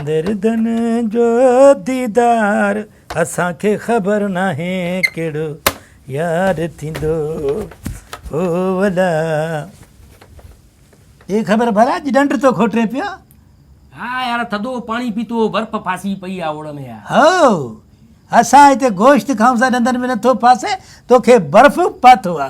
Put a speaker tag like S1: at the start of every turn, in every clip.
S1: دردن جو ديدار اسان کي خبر ناهي ڪهڙو يار ٿيندو هو ولا اي خبر ڀلا جي ڏنڊ تو کوٽري پيو ها يار
S2: ٿڌو پاڻي پيتو برف ڦاسي پئي آ اوڙ ۾ هو
S1: اسان هتي گوشت کائون سان ڏندن ۾ نٿو ڦاسي توکي برف پاتو آ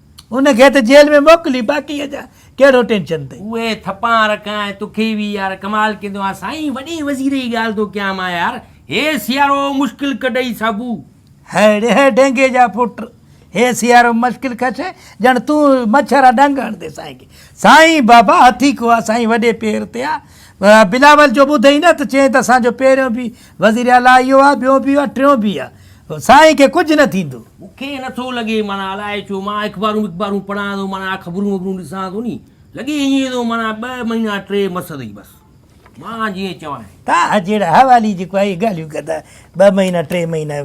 S1: ان کي ته جيل ۾ موڪلي باقيء جا ڪهڙو ٽينشن اٿئي. اهي ٿپان رک
S2: ۽ تکي وي يار ڪمال ڪيندو آهي سائين وڏي وزير جي ڳالهه ٿو ڪيان مان يار هي سيارو مشڪل ڪڍئي ساڀو. هي ڙي هي
S1: ڊينگي جا پٽ هي سيارو مشڪل ڪشي ڄڻ تون مڇر آ ڏنگ هڻندي سائين کي سائين بابا هٿي ڪو آ سائين وڏي پير تي آ بلاول جو ٻڌئي نه ته چئين ته اسان جو پهريون به وزير اعليٰ اهو آهي، ٻيون به آهي، ٽيون به آهي. سائين کي ڪجهه نه ٿيندو. مون کي نه ٿو لڳي
S2: معنيٰ الاء ڇو مان اخبارون وخبارون پڙهان ٿو معنيٰ خبرون وبرون ڏسان ٿو ني لڳي ائين ٿو معنيٰ ٻه مهينا ٽي مس اٿئي بس مان جيئن چوانء. تان جهڙا
S1: حوالي جيڪو آهي اهي ڳالهيون ڪندا ٻه مهينا ٽي مهينا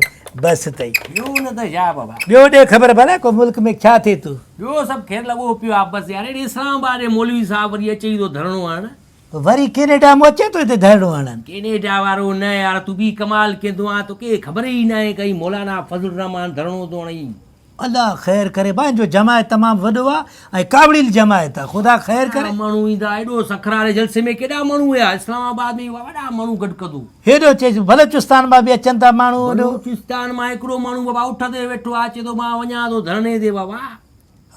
S1: بس اٿئي. ٻيو نه ته ڇا
S2: بابا. ٻيو ڏي خبر ڀلا
S1: ڪو ملڪ ۾ ڇا ٿئي ٿو. ٻيو سڀ خير لڳو
S2: پيو آهي بس يار هيڏي اسلام آباد جي مولوي صاحب وري اچي ٿو ڌرڻو هڻڻ وري ڪينيڊا
S1: مون اچي ٿو هتي ڌرڻو هڻن. ڪينيڊا وارو نه
S2: يار تون به ڪمال ڪندو آهين توکي خبر ئي ناهي ڪئين مولانا فضل الرحمان ڌرڻو ٿو هڻئي. الله خير
S1: ڪري ڀائين جو جماعت تمام وڏو آ ۽ ڪاوڙيل جماعت آ خدا خير ڪري. ڪيڏا ماڻهو ايندا ايڏو
S2: سکر واري جلسي ۾ ڪيڏا ماڻهو ويا اسلام آباد ۾ اهي وڏا ماڻهو گڏ ڪندو. هيڏو چيس
S1: بلوچستان مان به اچن ٿا ماڻهو هيڏو. بلوچستان مان هڪڙو
S2: ماڻهو بابا اٺ تي ويٺو آ چي ٿو مان وڃان ٿو ڌرڻي تي بابا.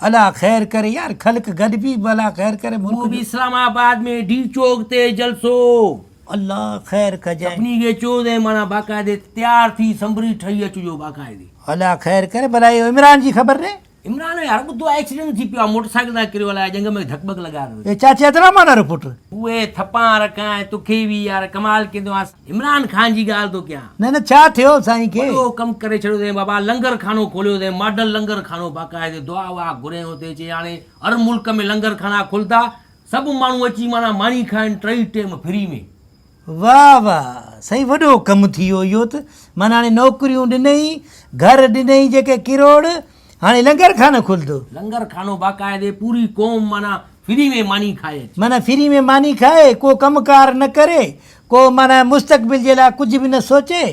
S2: الا خير
S1: ڪري يار خلق گڏ بيھ بلا خير ڪري ملڪ جو. مون به اسلام آباد
S2: ۾ ڊي چوڪ تي جلسو. الله
S1: خير ڪجين. سڀني کي چوز ۽
S2: معنيٰ باقاعدي تيار ٿي سنبري ٺهي اچجو باقاعدي. الا خير ڪري
S1: بلا اهو عمران جي خبر ڏي. عمران ۾ هر ٻڌو آ
S2: ايڪسيڊنٽ ٿي پيو آ موٽر سائيڪل تان ڪريو الاء ڄنگ ۾ ڌڪ ٻڪ لڳا اٿس. اي چاچي ادرا مانا رو
S1: پٽ. اهي ٿپان
S2: رکان ۽ توکي به يار ڪمال ڪيندو آس. عمران خان جي ڳالهه ٿو ڪيان. نه نه ڇا ٿيو
S1: سائين کي. وڏو ڪم ڪري ڇڏيو اٿئين
S2: بابا لنگر خانو کوليو اٿئين ماڊل لنگر خانو باقاعدي دعا وعا گهرين اتي چي هاڻي هر ملڪ ۾ لنگر خانا کلندا سڀ ماڻهو اچي معنيٰ ماني کائن ٽئي ٽيم فري ۾. واھ واھ
S1: سائين وڏو ڪم ٿي ويو اهو ته معنيٰ هاڻي نوڪريون ڏنئي گهر ڏنئي جيڪي ڪروڙ هاڻي لنگر خانو کلندو. لنگر خانو
S2: باقاعدي پوري قوم معنيٰ فري ۾ ماني کائي اچي. معنيٰ فري ۾ ماني
S1: کائي، ڪو ڪم ڪار نه ڪري، ڪو معنيٰ مستقبل جي لاء ڪجهه به نه سوچي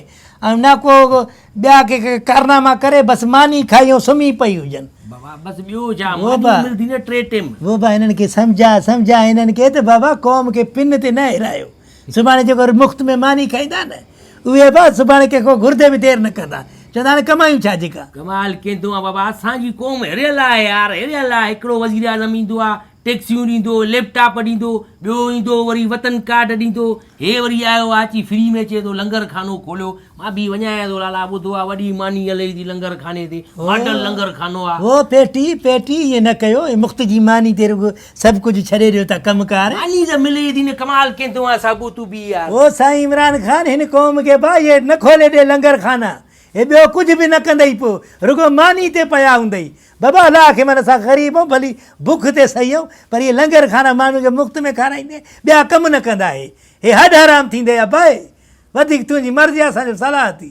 S1: ۽ نه ڪو ٻيا ڪي ڪارناما ڪري بس ماني کائي ۽ سمهي پئي هجن. بابا
S2: بس ٻيو ڇا ماني ملدي نه ٽي ٽيم. ووبا هنن کي سمجهاء
S1: سمجهاء هنن کي ته بابا قوم کي پن تي نه هيرايو. سڀاڻي جيڪو وري مفت ۾ ماني کائيندا نه اهي به سڀاڻي ڪنهن کان گهردي به دير نه ڪندا چوندا هاڻي ڪمايون ڇا جيڪا. ڪمال ڪيندو آ بابا
S2: اسان جي قوم هريل آهي يار هريل آ هڪڙو وزيراعظم ايندو آ ٽيڪسيون ڏيندو ليپ ٽاپ ڏيندو ٻيو ايندو وري وطن ڪارڊ ڏيندو هي وري آيو آ اچي فري ۾ چئي ٿو لنگر خانو کوليو مان به وڃايان ٿو لالا ٻڌو آ وڏي ماني هلي ٿي لنگر خاني تي ماڊل لنگر خانو آ. هو پيٽي پيٽي
S1: ائين نه ڪيو مفت جي ماني تي رڳو سڀ ڪجهه ڇڏي ڏيو ته ڪم ڪار. ماني ته ملي ئي ٿي نه
S2: ڪمال ڪين ٿو آ ساگو تون به يار. او سائين عمران خان
S1: هن قوم کي باهير نه کولي ڏي لنگر خانا هي ٻيو ڪجهه به نه ڪندئي پو رڳو ماني تي پيا هوندئي بابا الله کي من اسان غريب اهون ڀلي بک تي سهي اهون پر هي لنگر خانا ماڻهن کي مفت ۾ کارائيندي ٻيا ڪم نه ڪندا هي هي هڏ حرام ٿيندئي ابا هي وڌيڪ تنهنجي مرضي آ اسان جو صلاح ٿي